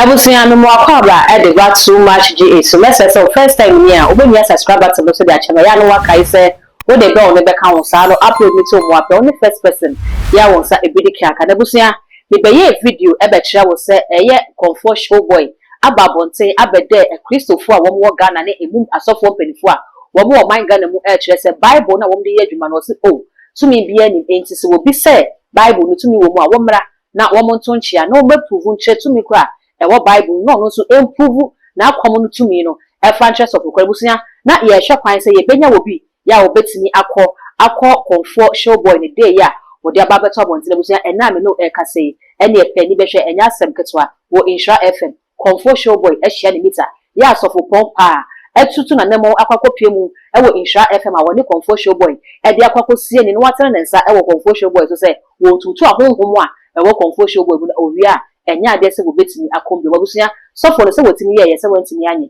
Abusua me moa kɔ aba ɛde ba too much gye ɛsu mɛsrɛ sɛ wo first time ni a wo bɛ hia subscribe button no so de akyɛ me ɛyɛ a na wo akae sɛ wo de bɛ wo ne bɛka ho saa no upload no to wo moa pɛ wo ne first person yɛ a wo nsa ɛbedi keaka na abusua me bɛ yɛɛ video ɛbɛ kyerɛ wo sɛ ɛyɛ kɔmfoɔ showboy aba abɔnten abɛdɛɛ Akristofoɔ a wɔwɔ Ghana ne emum asɔfoɔ mpaninfoɔ a wɔwɔ ɔman Ghana mu ɛɛkyerɛ sɛ Bible no a wɔde yɛ adwuma no ɔse oh tumi biaa nnim enti sɛ wɔbi sɛ Bible no tumi wɔ mu a wɔmmra na wɔn nto nkyea na wɔmmɛ pruvu nkyerɛ tumi korɔ a ɛwɔ Bible no na ɔno nso ɛmpruvu n'akɔm no tumi no ɛfa nkyerɛ sɔfo korɔ. Abusua na yɛɛhwɛ kwan sɛ yɛbɛnya wɔ bi Yɛ a wɔbɛtumi akɔ akɔ Kɔmfoɔ Showboy ne Dei a wɔde aba abɛto abɔnten abusua ɛnnɛ a me ne wo rekasa yi, ɛnneɛ pɛ ani bɛhwɛ, ɛnyɛ asɛm ketewa, wɔ Nhyira FM. Kɔmfoɔ Showboy ahyia ne mita. Yɛ a Sɔfo Pɔn Paa atutu n'anammɔn akɔ akɔpue mu wɔ Nhyira FM a wɔne Kɔmfoɔ Showboy de akɔ akɔsie ne na watene ne nsa wɔ Kɔmfoɔ Showboy so sɛ wɔntutu ahonhom a ɛwɔ Kɔmfoɔ Showboy mu na ɔwie a ɛnyɛ adeɛ sɛ wɔbɛtumi akɔm bio. M'abusua, Sɔfo no sɛ watumi yɛeɛ sɛ wantumi anyɛ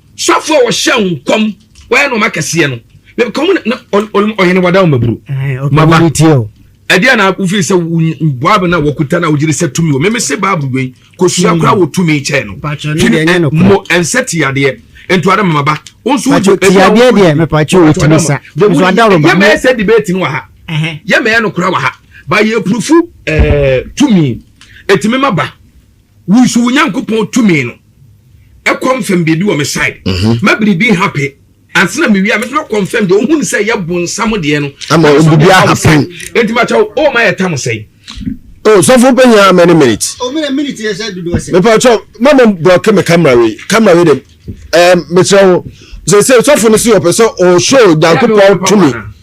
Sɔfo a wɔhyɛ nkɔm wɔyɛ nneɛma akɛseɛ no mekɔm na ɔhene wada ɔmaburo maba ɛde a na wofiri sɛ bible no a wɔkuta no a wogyere sɛ tumi wɔ meme se bible wei kɔsua koraa wɔ tumi kyɛɛ no mmɔ ɛnsɛ te adeɛ ntoada mama ba wo nso wogye tiadeɛ deɛ mepakye wɔtumi sa yɛmɛyɛ sɛ debate no wɔ ha yɛmɛyɛ no kora wɔ ha ba yɛpurufu tumi ɛtumi ma ba Wo nso wo Nyankopɔn tumi no ɛconfirm biribi wɔ me side. Mhm. Ma biribi happen. Ansa na mewie a mɛtumi akɔnfirm deɛ ohun sɛ yɛ bonsam deɛ no. Ama biribi ahappen. Enti ma kyɛw o ma yɛ tam sɛn. O sɔfo pɛnya many minutes. O mene minute yɛ sɛ dodo ɛsɛ. Mepa kyɛw ma mo blɔke me camera wei. Camera wei dem. Ɛɛ mekyerɛ wo. Sɛ sɛ sɔfo no si ɔpɛ sɛ ɔhyɛ Nyankopɔn tumi.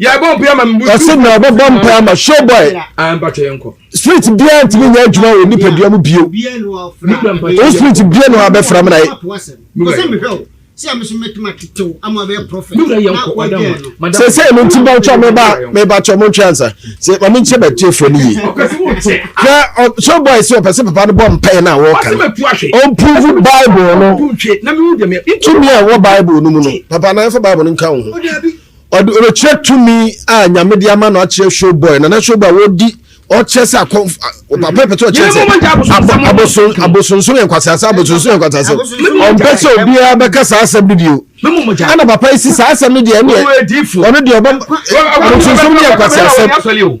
yɛbɔ mpae ama mbu ɛsɛ na ɔbɛbɔ mpae ama showboy street biara ntumi nyɛ adwuma wɔ nipadua mu bio o street bia na wabɛfra mu na yɛ sɛsɛ no nti bɛtwa meba mebatwa mo ntwe ansa sɛ ɔme nkyɛ bɛtiefoɔ no yie na showboy sɛ ɔpɛ sɛ papa no bɔ mpae no a wɔka no ɔmprove bible no tumi a ɛwɔ bible no mu no papa no ɛfa bible no nka wo ho Ɔde ɔbɛkyerɛ tumi a nyame de ama no akyerɛ showboy nana showboy wɔdi ɔkyerɛ sɛ akɔ papa pɛtɛ ɔkyerɛ sɛ aboson abosonso yɛ nkwasase abosonso yɛ nkwasase ɔmpɛ sɛ obiara bɛka saa asɛm no bio ɛna papa yi si saa asɛm no deɛ ɛneɛ ɔno deɛ ɔbɛ abosonso yɛ nkwasase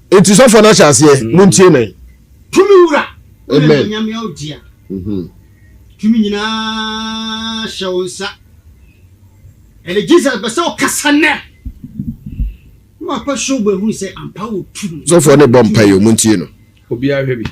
Enti sɔfoɔ no ahyɛ aseɛ, mm. montie me. Tumi wura, wone onyame a odia. Mhm. Tumi nyinaa hyɛ wo nsa. Ɛne Jesus bɛ sɛ ɔkasa nɛ. Na wakɔ show bɛ hu sɛ ampa wo tumi. Sɔfoɔ ne bɔ mpa yi, montie no. Obiara hwɛ bi.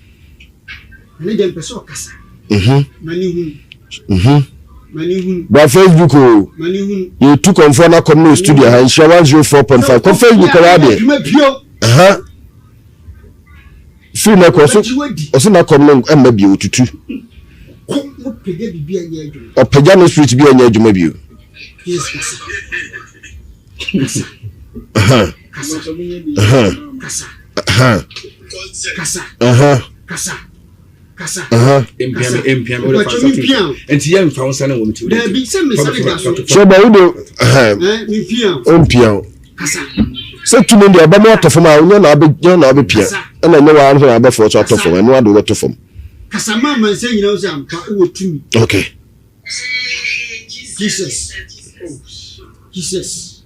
Ehu Ehu Bra Facebook o Yɛtu kɔmfoɔ no akɔm no studio ha Nhyira 104.5 Kɔ Facebook kɔwɔ adeɛ Ɛha Firi no kɔ so Ɔse n'akɔm no ɛmma bio tutu Ɔpagya no switch bi ɛnyɛ adwuma bio Ɛha sɛ tumi deɛ ɔbɛma atɔ fam a nyɛ na abɛnya na abɛpia ɛna nyɛ waa na abɛfoɔ so atɔ fam ɛno ade wobɛtɔ fam okay Jesus. Jesus.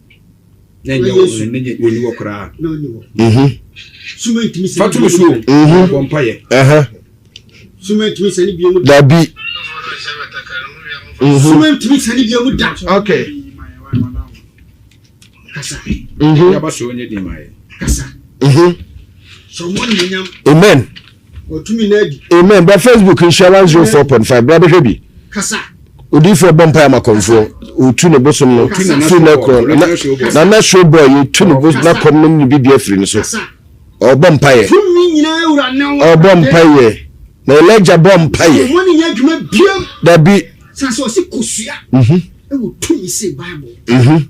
Fa to me so bɔ mpaeɛ. Dabi. Suma ntumi sani bi emu da. Okay. Kasa. Yaba so onye din ma ye. Kasa. Amen. Wɔtumi na adi. Amen. Bra Facebook nhyia 104.5 bra bɛhwɛ bi. Kasa. Odiifoɔ bɔ mpaeɛ ma kɔmfoɔ. Ɔtu ne bosom no firi no korɔ. Na nasuo bɔ yɛtu ne bosom na kɔm nom ne bibia firi no so. Ɔbɔ mpaeɛ. Ɔbɔ mpaeɛ. Na Elijah bɔ mpaeɛ. Dabi. Sase ɔsi kosua. Mhm. Ɛwɔ tumi se Bible. Mhm.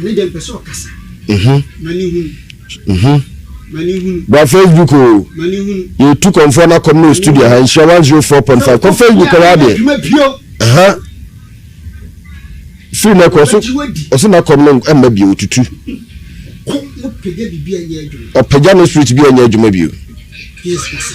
Ɛne deɛ mpɛ sɛ ɔkasa. Mhm. Ma ne hunu. Mhm. Ma ne hunu. Bra Facebook o. Ma ne hunu. Yɛtu kɔnfoɔ na kɔm no studio ha nhyira 104.5 kɔ Facebook kɔ wadeɛ. Adwuma bio. Aha. Firi na kɔ so ɔso na kɔm no ɛmma bio tutu. Kɔ mo pɛgya bibi ɛnyɛ adwuma. Ɔpɛgya no street bi ɛnyɛ adwuma bio. Yes masa.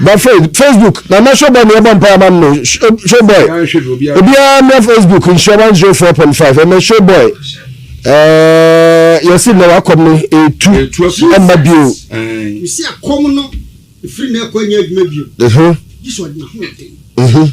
ba facebook na na showboy na yɛbɔ mpae ama no showboy obiara mmra facebook nhyia one zero four point five ɛmɛ showboy ɛɛ yɛsi na wakɔm no etu ɛmma bio yɛsi akɔm no efiri na ɛkɔ nyɛ adwuma bio ɛho ɛho.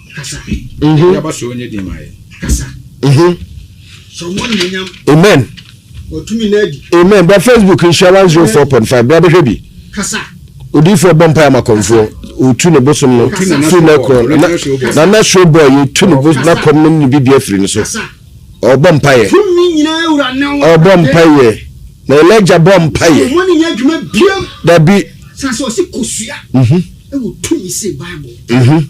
Amen. Amen. Bra Facebook nhyia one zero four point five. Bra bɛhwɛ bi. Odiifoɔ bɔ mpae ama kɔmfoɔ. Otu ne bosom no fi ne kɔn. Na na show boy otu ne bosom na kɔm no ne bi bi afiri ne so. Ɔbɔ mpaeɛ. Ɔbɔ mpaeɛ. Na Elijah bɔ mpaeɛ. Dabi. Sase ɔsi kosua. Mhm. Ɛwɔ tumi se Bible. Mhm.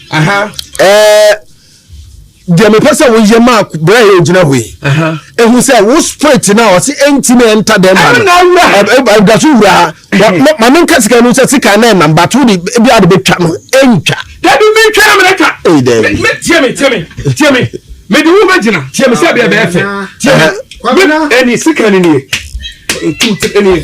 aha ɛɛ deɛ mepɛ sɛ woyɛ maa berɛ a yɛgyina hɔ yi ɛhu sɛ wo spirit no a ɔse ɛntimi ɛnta dɛm ma no da so wura ha ma menka sika no sɛ sika na ɛnam bato wode bi ade bɛtwa no ɛntwa dabi mentwa na menɛtwa tiɛ me tiɛ me tiɛ me mede wo bɛgyina tiɛ me sɛ bɛɛ bɛɛ fɛ tiɛ me ɛni sika no nie ɛtu ɛni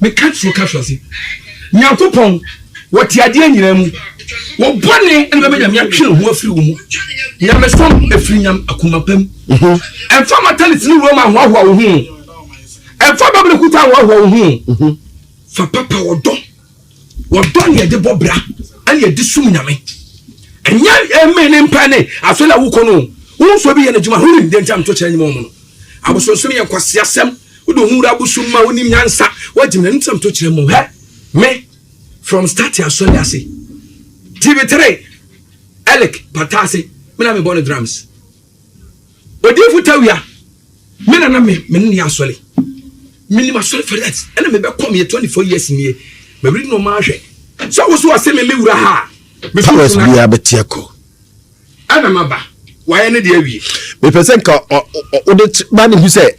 Meka kyerɛ ka hwɛ se, Nyankopɔn, wɔte adeɛ nyinaa mu, wɔ bɔne na bɛma Nyame atwe ne ho afiri wo mu. Nyamesom firi nyam akoma pa mu. Ɛmfa mataliti ne wura mu anhoahoa wo ho o, ɛmfa bɛbere kuta anhoahoa wo ho o, fa papa ɔdɔ Wɔdɔ nea yɛde bɔ bra ɛne yɛde som nyame. Ɛnyɛ ɛmɛ ne mpa ne asɔre a wokɔ no. Wo nso bi yɛ n'adwuma ho nim deɛ nti a meto kyerɛ nyima wɔn no. Abosonsom yɛ nkwaseasɛm. Wode ho wura abosom ma wonim nyansa. Woagyim na nti a meto kyerɛ mo. Hɛ me from start asɔre ase. TV3 Elick pata ase me na mebɔ no drums. Odiyifo Tawia, Me nana me me ne yɛ asɔre. Minim asɔre Ferret ɛna me bɛ kɔ meyɛ twenty four years nie. Ma read no maa hwɛ. Sɛ wo so ase me me wura ha. Me so Ferret bia bɛ teɛ kɔ. Ɛna ma ba. Wayɛ ne deɛ awie. Me pɛ sɛ nka ɔde ba ne hu sɛ.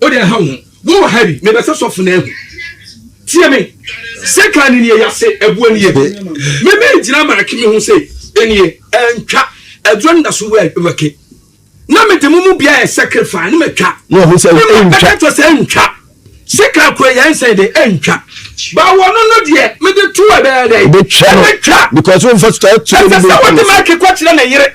Wo deɛ nha wo ho. Wo wɔ ha bi, me bɛsɛ sɔfo na ahu. Tie me, sekan ne nie yase, ɛboɔ nie. Me me gyina marake me ho se, enie, ɛntwa, ɛduro ne da so wɛ, wɛke. Na me de mo mu bia yɛ sacrifice ne matwa. Ne ɔmo sɛ, ɛntwa. Me bɛka to sɛ, ɛntwa. Sekan kura yɛn nsɛn de, ɛntwa. Ba wɔ no no deɛ, me de to ɛbɛyɛ dɛ. Ɛbɛtwa no, because wo nfa to ɛto. Ɛsɛ sɛ wo de marake kɔ kyerɛ ne yere.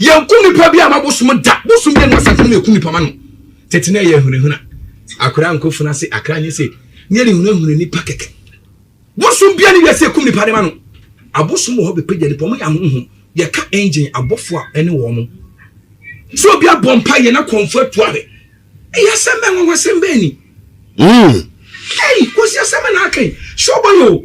Yɛn ku nipa bi a ma bosom da bosom bi ɛnu asafo mu eku nipa ma no tete na ɛyɛ hunahuna akora nko funa se akra nye se ne yɛ ne hunahuna nipa kɛkɛ bosom bi a ne wiase ekum nipa ne ma no abosom wɔ hɔ bepagya nipa wɔn yɛ ahohom yɛ ka engine abɔfo a ɛne wɔn mo sɛ obi abɔ mpa yɛ na kɔnfo atu ahwɛ ɛyɛ asɛm bɛn wɔn asɛm bɛn ni. Mm. Hey, kwasi asɛm na akan. Sure boy o.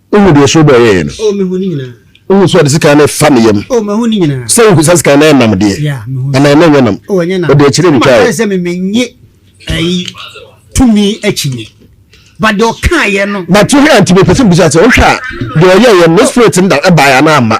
Wohu deɛ ɛsono bɔɔ yɛeɛ no? Wohu nso ɔde sekan no refa ne yam sɛ wohu saa sekan no ayɛ nam deɛ? Anaa na ɛnyɛ nam? Ɔde akyire retwaeɛ. But wohwɛ a nti mepɛ sɛ mebisa sɛ wohwɛ a deɛ ɔyɛeɛ no ne spirit no da baeɛ anaa amma?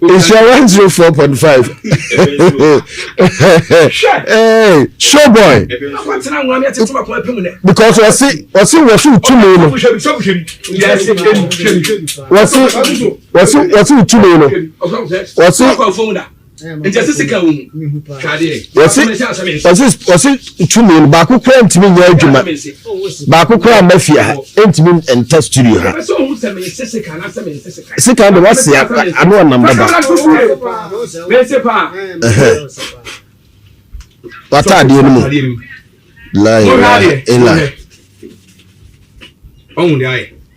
nhyira one zero four point five show boy because wɔsi wɔsi wɔsi ntumi no wɔsi wɔsi wɔsi ntumi no wɔsi. nti ɛsɛ sika wo mu kadeɛ ɔse ntumi no baako koraa ntumi nyɛ adwuma baako koraa mma fie ha ɛntumi nta studio ha sika de wasea ano ɔnam baba wataadeɛ no mu la ilaha illa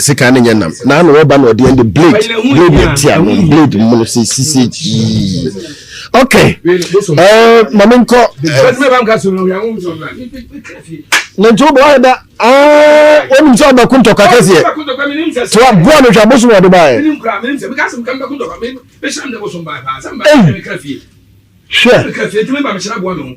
Sekan ne nyɛ nam na ano ɔba na ɔde ɛnde blade blade ɛti ano blade mu no sɛ sisi gyii ok ɛɛ maame nkɔ na nti wobɔ ayɛ da aa wɔnim sɛ ɔbɛko ntɔkwa kɛseɛ so aboa no hwɛ abosom ɔde baɛ hwɛ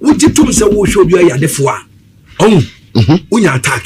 Wogye tom sɛ wohwɛ obi ɔyɛ adefo a, ɔn, mhm. wonya attack.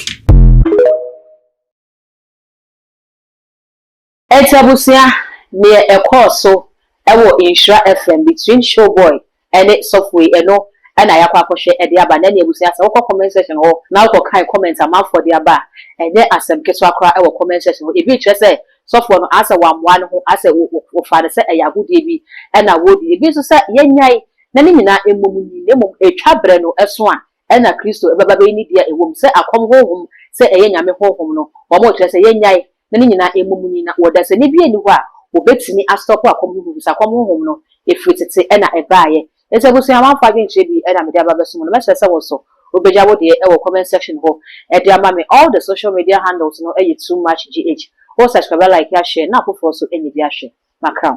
Ɛnti abusua, neɛ ɛkɔɔ so ɛwɔ Nhyira FM between Showboy ɛne Sɔfoe ɛno ɛna yakɔ akɔhwɛ ɛde aba. Na ɛneɛ abusua sɛ wokɔ comment section hɔ na wokɔ kan comment amanfoɔ de aba a, ɛnyɛ asɛm ketewa koraa ɛwɔ comment section hɔ. Ebi kyerɛ sɛ sɔfoɔ no asɛ wammoa ne ho, asɛ wɔfaa no sɛ ɛyɛ agodie bi ɛna wɔredi. Ebi nso sɛ yɛnyae na ne nyinaa mmom ni, na mmom etwa berɛ no ɛso a ɛna Kristo ɛbɛba bɛyi ne deɛ ɛwɔ mu sɛ akɔm honhom sɛ ɛyɛ Nyame honhom no wɔ mo, kyerɛ sɛ yɛnnyae, na ne nyinaa mmom ni, na ɔdasani biara nni hɔ a ɔbɛtumi astɔpo akɔm honhom ɛfiri sɛ akɔm honhom no ɛfiri tete ɛna ɛbaeɛ. Enti abusua a wɔamfa adwenkyerɛ bi ɛna mede aba abɛsom no, mɛsrɛ sɛ wo nso wobɛgya wo deɛ ɛwɔ comment section hɔ ɛde ama me, all the social media handles no ɛyɛ too much gh, wo subscribe, like, ahwɛ na afoforɔ nso ɛnya bi ahwɛ. maka ho.